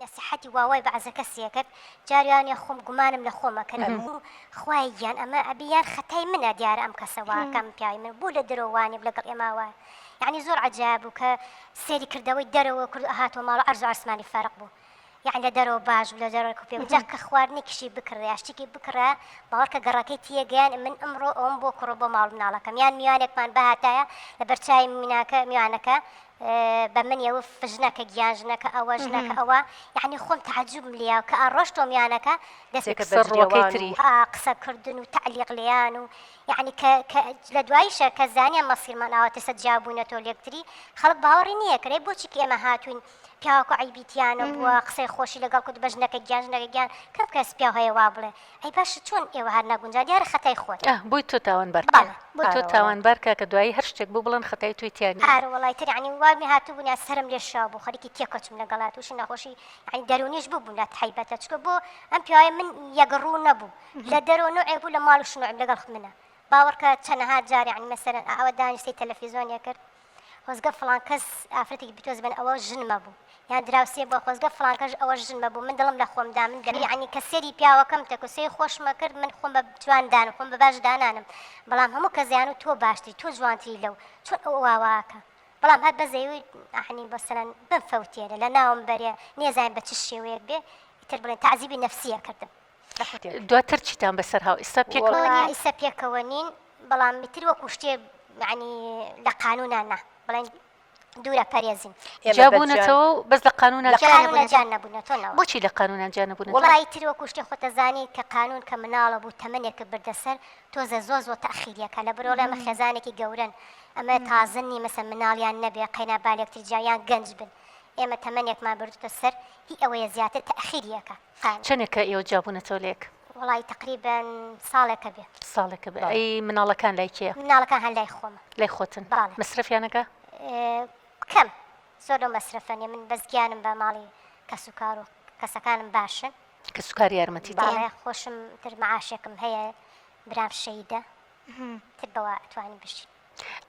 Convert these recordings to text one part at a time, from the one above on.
نەسیحەتی وا وای بە عەزەکە سێ کرد جاری وا نیە خۆم گومانم لە خۆمە کرد ئەبوو خوایە گیان ئەمە ئەبی یان خەتای منە دیارە ئەم کەسە وا کە ئەم پیاوی من بوو لە درۆ وانێ لەگەڵ ئێمە وا یانی زۆر عەجایە بوو کە سێری کردەوەی دەرەوە کرد و هاتەوە ماڵ عەرز و عەرسمانی فەرق بوو یانی لە دەرەوە باش بوو لە دەرەوە کوپێ بوو جا کە خواردنێکیشی بکڕێ یا شتێکی بکڕێ باوەڕ کە گەڕەکەی تیە گەیان من ئەمڕۆ ئەوەم بۆ کڕۆ بۆ ماڵ مناڵەکەم یان میوانێکمان بهاتایە لە بەرچاوی میناکە میوانەکە بە من یە وف ژنەکە گیان ژنەکە ئەوە ژنەکە ئەوە یعنی خۆم تەعجوبم لیا کە ئاڕۆژ تۆمیانەکە دەستێکە قسە بەجدیەوە ڕووەکەی وان و تری. ئا قسە کردن و تەعلیق لێیان و یعنی کە کە لە دواییشە کە زانیان مەسیرمان ئاواتەسە جیا بووینەتەوە لێکتری خەڵک باوەڕی نییە کەرێ بۆچی کە ئێمە هاتووین پیاوەکوو عەیبی تیا نەبووە قسەی خۆشی لەگەڵ کورد بە ژنەکە گیان ژنەکە گیان کەم کەس پیاو هەیە وا بڵێ ئەی باشە چۆن ئێوە هەر ناگونجا دیارە خەتای خۆت. ئاه بۆی تۆ تاوانبار کە. بەڵێ بۆی تۆ تاوانبار کە کە دوایی هەر شتێک بوو بڵێن خەتای تۆی تیا نیە. ئارە وەڵای تر یەعنی وام لێ هاتوبوو نە سەرم لێ شاو بوو خەریکی تێکۆچم لەگەڵا توشی نەخۆشی یەعنی دەرونیش ببوم لات حەیبەتە چکە بۆ ئەم پیاوەیە من یەک ڕوو نەبوو لە دەرەوە نوعێک بوو لە ماڵ شنوعێک لەگەڵ منە باوەڕکە چەنەها جار یەعنی مەسەلەن ئاوا دانیشتەی تەلەفیزۆنێ کرد خۆزگە فڵان کەس ئافرەتێکی بتۆز بن ئەوە ژن مەبوو یان دراوسێ بووە خۆزگە فڵانکەش ئەوە ژن مەبوو من دڵم لە خۆمدا من گەلی عنی کە سێری پیاوەکەم تەکو سێ خۆشمە کرد من خۆم بە جوان دانم خۆم بە باش دانانم بەڵام هەموو کە زیان و تۆ باشتری تۆ جوانتری لەو چۆن ئەو واواکە بەڵام هەر بەزەوی ئەحنی بەسەرەن بم فەوتێرە لە ناوم بەرێ نێزانین بە چ شێوەیەک بێ ئیتر بڵێن تعزیبی نەفسیە کردم دواتر چیتان بەسەر هاو ئیستا پێکەوە نین؟ وەڵا ئیستا پێکەوە نین بەڵام میتر وەکو شتێ یعنی لە قانونا نا بڵێن دوورە پەرێزین جیا بوونەتەوە و بەس لە قانونا لە جیا قانونا جیا نەبوونەتەوە نەوە بۆچی لە قانونا جیا نەبوونەتەوە؟ وەڵای تر وەکو شتێ خۆ تەزانی کە قانون کە مناڵە بوو تەمەنێکت بردە سەر تۆزێ زۆر زۆر تاخیریەکە لە برۆڵێ ئەمە خێزانێکی گەورەن ئەمە تازە نی مەسە مناڵیان نەبێ قەینا بالێکتر جیایان گەنج بن ئێمە تەمەنێکمان بردوتە سەر هی ئەوەیە زیاتر تاخیریەکە چەنێکە ئێوە جیابوونەتەوە لەیەک؟ وەڵایی تەقریبەن ساڵێکە بێ. ساڵێکە بێ. ئەی مناڵەکان لای کێ؟ مناڵەکان هەر لای خۆمە. لای خۆتن. بەڵێ. مەسرەفیانەکە؟ کەم. زۆر لەو مەسرەفە نیە. من بەس گیانم بە ماڵی کەسوکار و کەسەکانم باشن. کەسوکار یارمەتی دەیەن؟ بەڵێ خۆشم تر مەعاشێکم هەیە برام شەهیدە تر بەوە ئەتوانین بژین.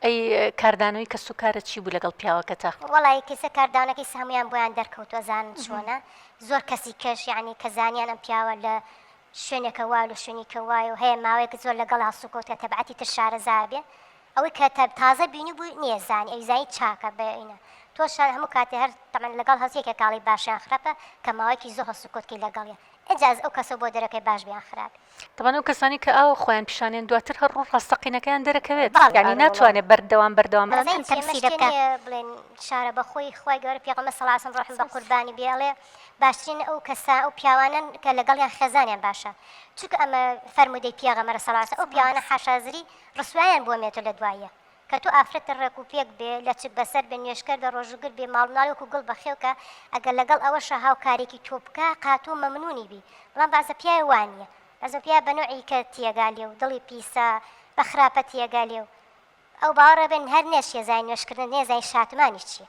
ئەی کاردانەوەی کەس و کارە چی بوو لەگەڵ پیاوەکەتا؟ وەڵی کەسە کاردانەکەی سەمویان بۆیان دەرکەوتوە زان چۆنە زۆر کەسی کەش یعنی کە زانیان ئەم پیاوە لە شوێنێکە وا لە شوێنی کە وایە و هەیە ماوەیەک زۆر لەگەڵ هەڵسوکەوتە تەبعەتی تر شارەزابێ ئەوەی کە تە تازە بینی بوو نییە زانی ئەوی زانی چاکە بەینە تۆ شار هەموو کاتی هەر تەمەن لەگەڵ هەزیەکە کاڵی باشیان خراپە کە ماوەیەکی زۆر هەڵسوکەوتکی لەگەڵیە ئەجااز ئەو کەسە بۆ دەرەکەی باش بیان خراپی تەبان ئەو کەسانەی کە ئاوا خۆیان پیشانیان دواتر هەر ڕوو ڕاستەقینەکەیان دەرەکەوێت یانی ناتوانێت بەردەوام بەردەوام بەس ئەم تەمسیلە بکە. بڵێن شارە بەخۆی خوای گەورە پێغەمبەر صلی اللە علیە و سلم ڕۆحم بەقوربانی بێ ئەڵێ باشترین ئەو کەسە ئەو پیاوانەن کە لەگەڵیان خێزانیان باشە چونکە ئەمە فەرموودەی پیەغەمەرە صلی اللە علیە و سلم ئەو پیاوانە حاشا زری ڕسوایان بووە مێتۆ لەدواییە کە تۆ ئافرەتە ڕێک و پێک بێ، لەچک بەسەر بێ، نوێژکەر بێ، ڕۆژووگر بی، ماڵومناڵی وەکوو گوڵ بەخێو کە، ئەگەر لەگەڵ ئەوەشا هاوکارییەکی تۆ بکا، قاتۆ مەمنوونی بی. بەڵام بەعزە پیاوێ وا نییە. بەعزە پیاوێ بە نۆعی کە تیەگا لێ و دڵی پیسە، بە خراپە تیەگا لێ و ئەو باوەڕێ بێ نهر نێ چییە زای نوێژکردن، نێ زای شاتمانیش چییە.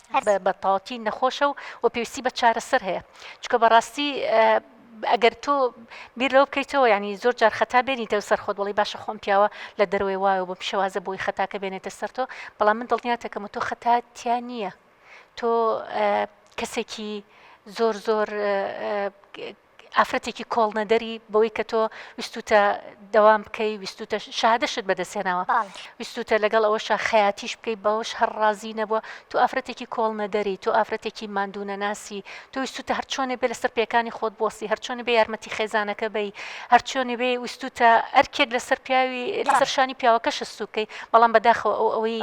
هەر بە تاڵتین نەخۆشە و و پێویستی بە چارەسەر هەیە چکە بەڕاستی ئەگەر تۆ بیر لەو بکەیتەوە ینی زۆر جار خەتا بێنیتە سەر خۆت وڵی باشە خۆم پیاوە لە دەروێ وایە بۆ پیشەوازە بۆی خەتاکە بێنێتە سەر تۆ بەڵام من دڵنیاتەکەم تۆ خەتاتیا نییە تۆ کەسێکی زۆر زۆر ئافرەتێکی کۆڵنەدەری بەوەی کە تۆ ویستوتە دەوام بکەی ویستوتە شادەشت بەدەستێناوە ویستوتە لەگەڵ ئەوەشە خەیاتیش بکەی بەوەش هەر ڕازی نەبووە تو ئافرەتێکی کۆڵنەدەری تو ئافرەتێکی مادونەناسی تۆ ویستوتە هەرچۆنێ بێ لەسەر پێکانی خۆت بۆسی هەرچۆنی بێ یارمەتی خێزانەکە بی هەرچۆنی بێ ویستوتە ئەرکێک لەسەر پیاوی لەسەر شانی پیاوەکە شستوکەی بەڵام بەداخەوە ئەو ئەوەی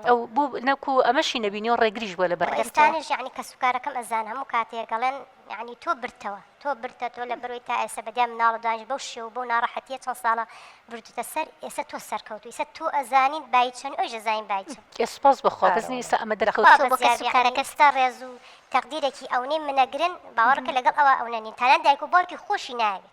ئەو بو نەکو ئەمەشی نەبینی و ڕێگریش بوە لە بەر ڕای تۆ. ئێستانیش یەعنی کەسوکارەکەم ئەزان هەموو کاتێک ئەڵێن یەعنی تۆ برتەوە تۆ برتە تۆ لە بەرۆی تا ئێسە بەدیای مناڵە دانیش بەو شێو و بەو ناڕەحەتیە چەند ساڵە بردوتە سەر ئێسە تۆ سەرکەوتوی ئیسە تۆ ئەزانیت بایی چەنی ئەویش ئەزانین بایی چە ئێ سوپاس بە خوا بەس نی ئیسە ئەمە دەرەکەوت خوا بەس یار بی یەعنی ئێستا ڕێز و تەقدیرێکی ئەونەی منەگرن باوەڕکە لەگەڵ ئەوە ئەونە نین تانان دایک و باوکی خۆشی نایەوێت.